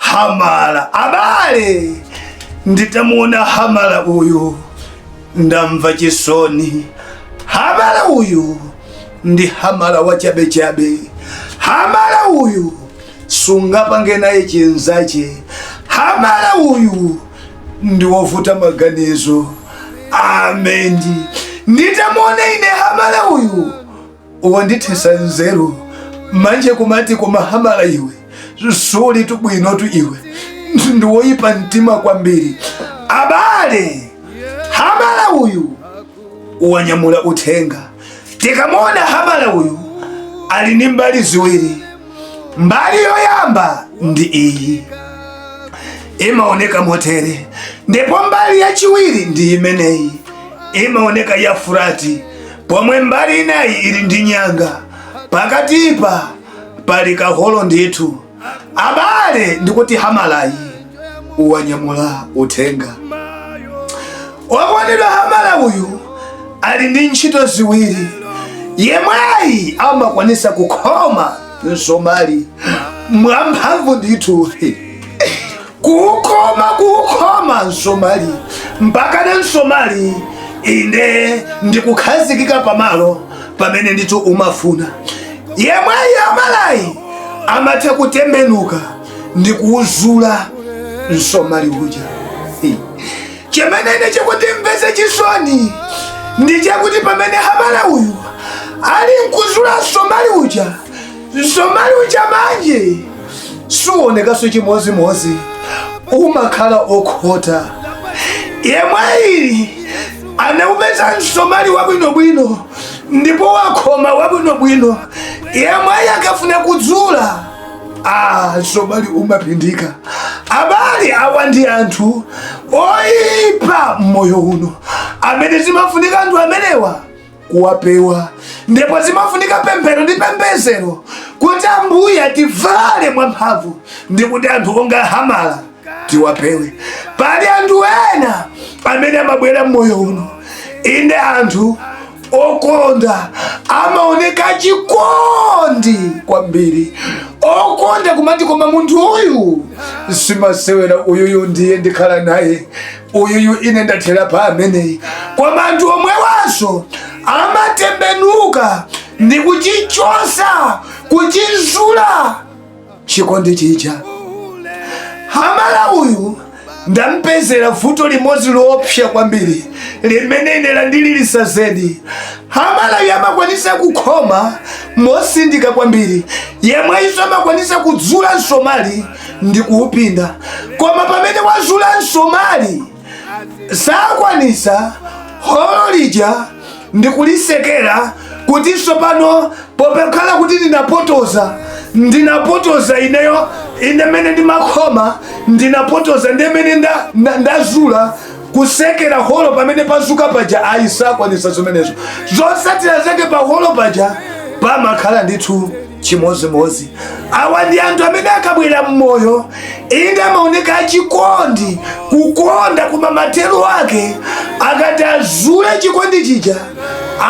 Hamala abale, nditamuona Hamala uyu ndamva chisoni. Hamala uyu ndi Hamala wachabechabe. Hamala uyu sungapange naye chinzache. Hamala uyu ndi wovuta maganizo. Amen. Nditamuona ine Hamala uyu wandithesa nzeru manje kumati koma hamala iwe suli tubwinotu iwe ndiwoyipa mtima kwambiri abale hamala uyu wanyamula uthenga tikamuona hamala uyu ali ndi mbali ziwiri mbali yoyamba ndi iyi imaoneka motere ndipo mbali yachiwiri ndi imeneyi imaoneka ya furati pomwe mbali inayi ili ndi nyanga pakatipa pali kaholo ndithu abale ndikuti hamalayi wanyamula uthenga wokondedwa hamala uyu ali ndi ntchito ziwiri yemweyi amakwanisa kukhoma msomali mwamphamvu ndithu kuwukhoma kuwukhoma msomali mpakana msomali inde ndikukhazikika pamalo pamene ndithu umafuna yemweyi hamalayi amatha kutembenuka ndi kuwuzula msomali uja Hi. chimene ine chikundimvesa chisoni ndi chakuti pamene hamala uyu ali nkuzula msomali uja msomali uja manje suonekaso chimozimozi umakhala okhota yemweyi anaupeza msomali wabwinobwino ndipo wakhoma wabwinobwino yemweyi akafuna kudzula ah, msomali umapindika abale awa ndi anthu oyipa mmoyo uno amene zimafunika anthu amenewa kuwapewa ndipo zimafunika pemphero ndi pembezero kuti ambuye ativale mwamphamvu ndi kuti anthu onga hamala tiwapewe pali anthu ena amene amabwera mmoyo uno inde anthu okonda amaoneka chikondi kwambiri okonda kumati koma munthu uyu simasewera uyuyu ndiye ndikhala naye uyuyu ine ndathera pa ameneyi koma anthu omwewaso amatembenuka ndi kuchichosa kuchizula chikondi chija hamala uyu ndampezera vuto limodzi loopsa kwambiri limene ine landililisa zedi hamala uyu amakwanisa kukhoma mosindika kwambiri yemweyiso amakwanisa kudzula msomali ndi kuupinda koma pamene wazula msomali sakwanisa holo lija ndikulisekera kuti tsopano pokhala kuti ndinapotoza ndinapotoza ineyo ine mene ndimakhoma ndinapotoza ndi mene nda- nda- ndazula kusekera holo pamene pazuka paja ayi sakwanisa zimenezo zotsatira zake pa holo paja pamakhala ndithu chimodzimodzi awa ndi anthu amene akabwera mmoyo inde amaoneka achikondi kukonda koma mathero ake akati azule chikondi chija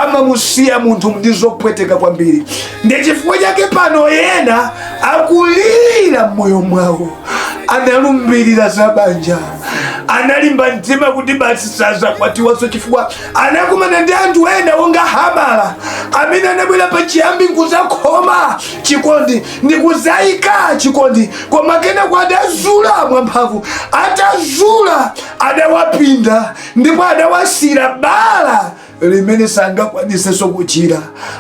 amamusiya munthu ndi zopweteka kwambiri ndi chifukwa chake pano ena akulira mmoyo mwawo analumbirira za banja analimba mtima kuti basi sazakwatiwanso chifukwa anakumana ndi anthu ena onga hamala amene anabwera pa chiyambi nkuzakhoma chikondi ndikuzayika chikondi koma kenako adazula mwamphamvu atazula adawapinda ndipo adawasira bala limene sangakwanisenso kuchira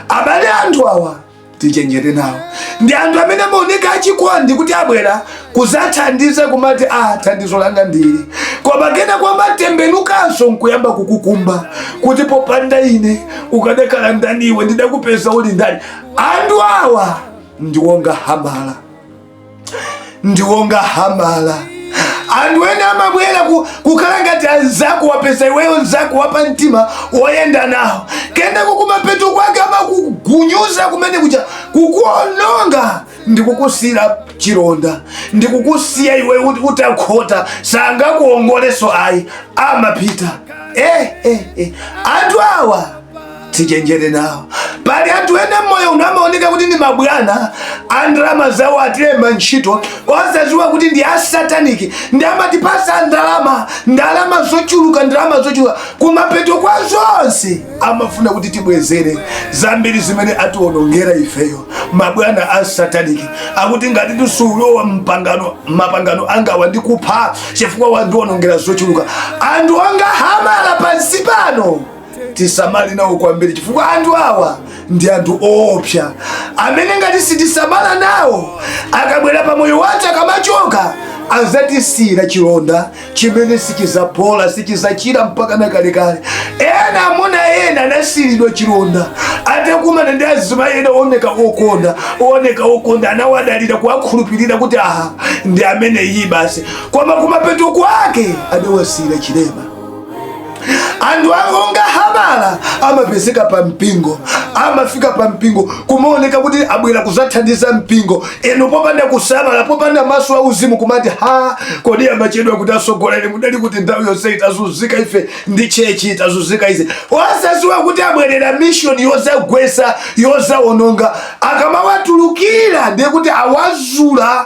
abale anthu awa tichenjere nawo ndi anthu amene amaoneka achikondi kuti abwera kuzathandiza kumati a ah, thandizo langa ndili koma kenako amatembenukanso nkuyamba kukukumba kuti popanda ine ukadakhala ndani iwe ndidakupeza uli ndani anthu awa ndiwonga hamala ndiwonga hamala anthu ena amabwera kukhala ngati anzako wapeza iweyo nzako wapa mtima woyenda nawo kenako kumapeto kwake amakugunyuza kumene kuja kukuononga ndikukusira chironda ndikukusiya iwe utakhota sangakuongoleso ayi amapita eh, eh, eh. anthu awa tichenjere nawo pali anthu ena mmoyo uno amaoneka kuti ndi mabwana andalama zawo atilemba ntchito osaziwa kuti ndi asataniki ndi amatipasa ndalama ndalama zochuluka ndalama zochuluka kumapeto kwa zonse amafuna kuti tibwezere zambiri zimene atiwonongera ifeyo mabwana a sataniki akuti ngati sulowa mpangano mapangano angawa ndikupha chifukwa wandiwonongera zochuluka anthu onga hamala pansi pano tisamale nawo kwambiri chifukwa anthu awa ndi anthu oopsa amene ngati sitisamala nawo akabwera pa moyo wathu akamachoka azatisiyira chilonda chimene sichizapola sichizachira mpaka nakalekale ena amuna ena anasiyiridwa chilonda atakumana ndi azimayi ena ooneka okonda ooneka okonda anawadalira kuwakhulupirira kuti aha ndi ameneyi basi koma kumapeto kwake adawasiyira chilema anthu akonga habala amapezeka pa mpingo amafika pa mpingo kumaoneka kuti abwera kuzathandiza mpingo ndiye popanda kusamala popanda maso a uzimu kumati ha kodi amachedwa kuti atsogoleri mudali kuti nthawi yonseyi tazunzika ife ndi tchetchiyi tazunzika ife osaziwa kuti abwerera mishoni yozagwesa yozawononga akamawatulukira ndiye kuti awazula